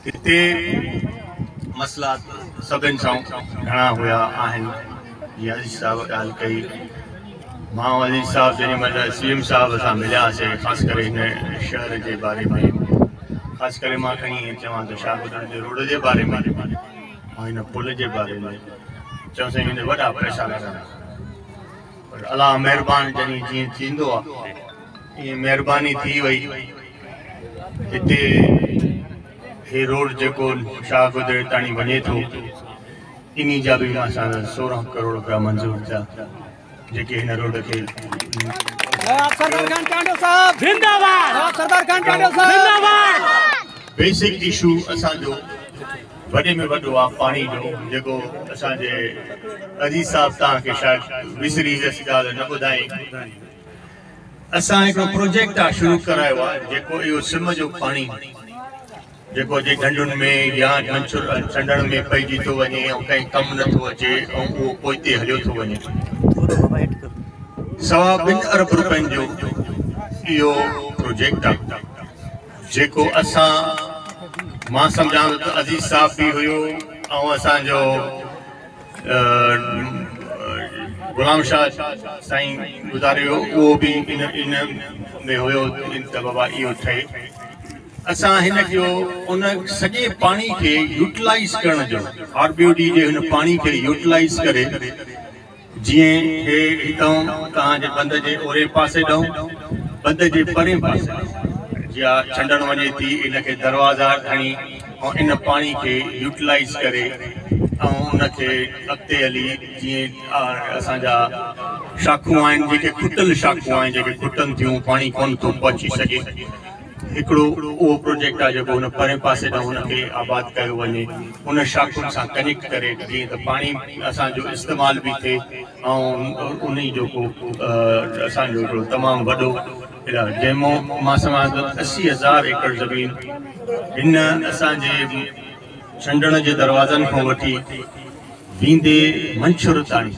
هتي مسئلا سڀن سان گهڻا هيا آهن جيئن علي صاحب ڳالهه ڪئي مان علي صاحب جنهن مهل سي ايم صاحب سان ملياسي خاص ڪري هن شهر جي باري ۾ خاص ڪري مان کڻي ائين چوان ته شاهه گدڙ جي روڊ جي باري ۾ ۽ هن پل جي باري ۾ چيو سائين هن وڏا پئسا لڳندا پر الله مهربان جڏهن جيئن ٿيندو آ ايئن مهرباني ٿي وئي هتي هي روڊ جيڪو شاهه گدري تائين وڃي ٿو انهي جا به اسان جا سورهن ڪروڙ رپيا منظور ٿيا جيڪي هن روڊ کي بيسڪ اشو اسان جو وڏي ۾ وڏو آ پاڻي جو جيڪو اسان جي عزيز صاحب توهان کي شايد وسري ويس ڳالهه نه ٻڌائي اسان هڪڙو پروجيڪٽ آ شروع ڪرايو آ جيڪو اهو سم جو پاڻي جيڪو جي ڍنڍن ۾ يا منڇر چنڊڻ ۾ پئجي ٿو وڃي ۽ ڪنهن ڪم نه ٿو اچي ۽ اهو پوئتي هليو ٿو وڃي سوا ٻن ارب روپين جو اهو پروجيڪٽ آ جيڪو اسان مان سمجهان ٿو ته عزيز صاحب به هيو ۽ اسان جو غلام شاهه سائين گذاري ويو اهو به ان ان ۾ هيو ته بابا اهو ٺهي اسان هن جو ان سڄي پاڻي کي يوٽلائز ڪرڻ جو آر بي او ڊي جي هن پاڻي کي يوٽلائز ڪري جيئن هي هتئون اتان جي بند جي اورين پاسي ڏئون، بند جي پرين پاسي ڏئون، جيا ڇنڊڻ وڃي ٿي ان کي دروازا کڻي ۽ ان پاڻي کي يوٽلائيز ڪري ۽ ان کي اڳتي هلي جيئن اسان جا شاخون آهن جيڪي کٽل شاخون آهن جيڪي کٽن ٿيون پاڻي ڪونه ٿو پهچي سگهي. هڪڙو اهو پروجيڪٽ آهي جيڪو هن پرئين پاسي ڏانهن ان کي آباد ڪيو وڃي ان شاخن سان ڪنيڪٽ ڪري جيئن ته پاڻي اسان جو استعمال به ٿئي ۽ انهي جو ڪو اسان جو هڪڙو تمام وڏو علاج جنهن مان سواء اسي هزار ايڪڙ زمين هن اسان جي چنڊڻ جي دروازن کان وٺي ويندي منڇر تائين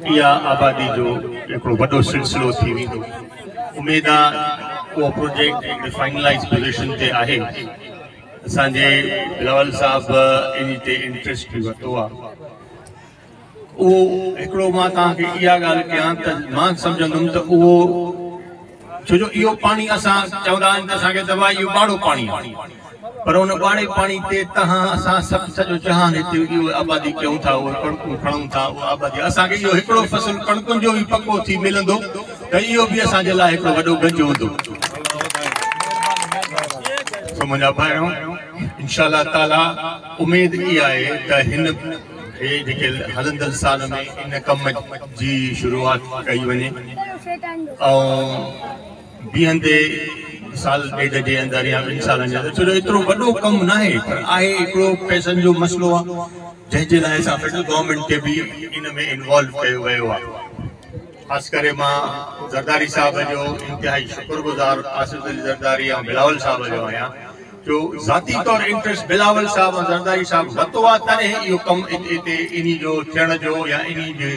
اها آبادي جو هڪڙو وڏو سلسلو ٿي ويندو. اميد آ اهو پروجيڪٽ هڪڙي فائنلائيز پوزيشن تي آهي. اسان جي بلاول صاحب ان تي انٽريسٽ به ورتو آ. اهو هڪڙو مان توهان کي اها ڳالهه ڪيان ته مان سمجهندم ته اهو ڇو جو اهو پاڻي اسان چوندا آهن ته اسان کي دوا اهو ٻاڙو پاڻي آهي پر ان ٻاڙي پاڻي تي تهان اسان سڀ سڄو جهان هتي اهو آبادي ڪيون ٿا اهو ڪڻڪون کڻون ٿا اهو آبادي اسان کي اهو هڪڙو فصل ڪڻڪن جو به پڪو ٿي ملندو ته اهو به اسان جي لاء هڪڙو وڏو گنج هوندو سو منهنجا ڀائرو انشاء الله تعاليٰ اميد اها آهي ته هن هي جيڪي هلندڙ سال ۾ ان ڪم جي شروعات ڪئي وڃي ۽ بيهندي سال ڏيڍ جي اندر يا ٻن سالن جي اندر ڇو جو ايترو وڏو ڪم نه آهي پر آهي هڪڙو پئسن جو مسئلو آهي جنهن جي لاء اسان فيڊرل گورنمينٽ کي به ان ۾ انوالو ڪيو ويو آهي خاص ڪري مان زرداري صاحب جو انتهائي شڪر گذار آصف علي زرداري ۽ بلاول صاحب جو آهيان جو ذاتي طور انٽريسٽ بلاول صاحب ۽ زرداري صاحب وتو آ تڏهن اهو ڪم اتي انهي جو ٿيڻ جو يا انهي جي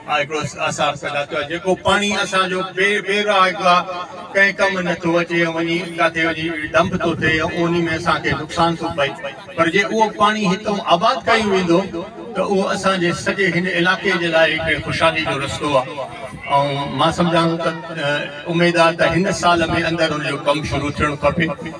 هڪڙو آثار پيدا ٿيو آ جيڪو پاڻي اسان جو بي بي راء هڪ آ ڪنهن ڪم نه ٿو اچي ۽ وڃي ڪاٿي وڃي ڊمپ ٿو ٿئي ۽ انهي ۾ اسان کي نقصان ٿو پئي پر جي اهو پاڻي هتئون آباد ڪيو ويندو ته اهو اسان جي سڄي هن علائقي جي لاء هڪڙي خوشحالي جو رستو آ ۽ مان سمجهان ٿو ته اميد آ ته هن سال ۾ اندر ان جو ڪم شروع ٿيڻ کپي.